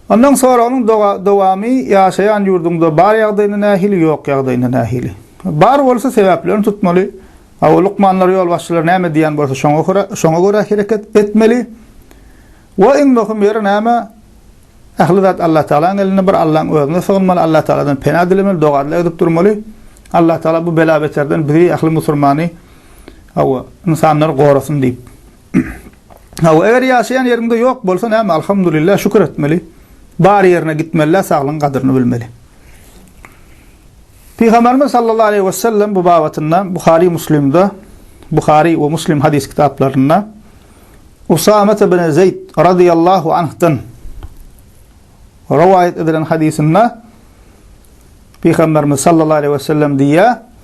Ondan soragyň dowamy ýaşaýan ýurduňda bar ýagdaýyna nähili ýok ýagdaýyna nähili? Bar bolsa sebäplerini tutmaly, a lukmanlar ýolbaşçylar näme diýýän bolsa şoňa görä hereket etmeli we iň möhüm ýeri näme ähli zat Allah Tagalaň elinde bir Allaň özüne sygynmaly Allah Tagaladan pena dilemeli dogadla edip durmaly Allah Tagala bu bela beterden bizi ähli musurmany we insanlary gorasyn diýip. Hawa, eger ýaşaýan ýeriňde ýok bolsa näme, alhamdulillah, şükür etmeli. Bar ýerine gitmeli-de, saglygyň gadyryny bilmeli. Pygamberimiz sallallahu aleyhi ve sellem bu babatynda Buhari Muslimde Buhari ve Muslim hadis kitaplarynda Usame ibn Zeyd radıyallahu anh'dan rivayet edilen hadisinde Pygamberimiz sallallahu aleyhi ve sellem diýýär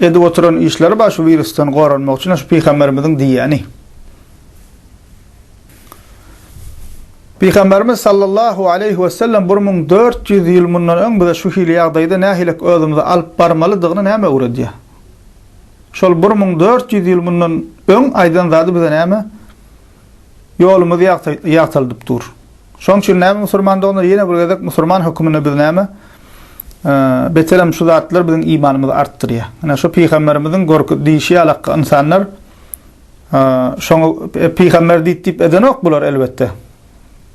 Edip oturan işleri bar şu wirusdan goranmak üçin şu pygamberimiziň diýýäni. Pygamberimiz sallallahu aleýhi wesellem bir müň dört ýüz ýyl mundan öň bize şu hili ýagdaýda nähilek özümizi alyp barmalydygyny näme öwredýär? Şol bir müň dört ýüz ýyl mundan öň aýdan zady bize näme? Ýolumyz ýagtylydyp dur. Şoň üçin näme musurman doganlar ýene bir gezek musurman höküminde biz näme beterem şu zatlar biziň imanymyzy artdyrýa. Ine şu pygamberimiziň görki diýişi ýaly hakga ynsanlar şoňa pygamber diýip diýip edenok bular elbetde.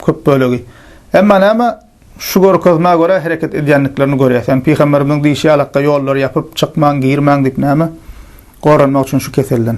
Köp bölegi. Emma näme şu görkezmä görä hereket edýändiklerini görýäs. Ýani pygamberimiziň diýişi ýaly hakga ýollary ýapyp çykmaň girmäň diýip näme goranmak üçin şu keselden.